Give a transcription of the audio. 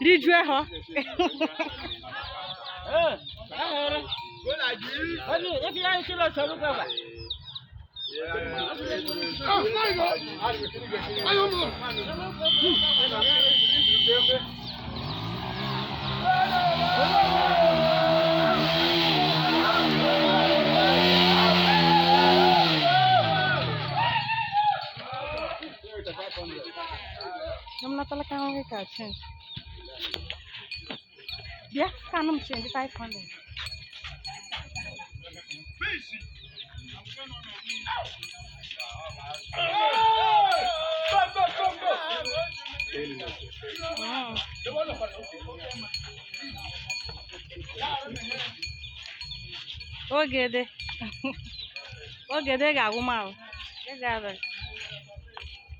rijue ha Domna tala ka ngi ka chen. Dia ka nam chen di 500. Ogede. Ogede ga-agwụ m ahụ. Ị ga-abịa.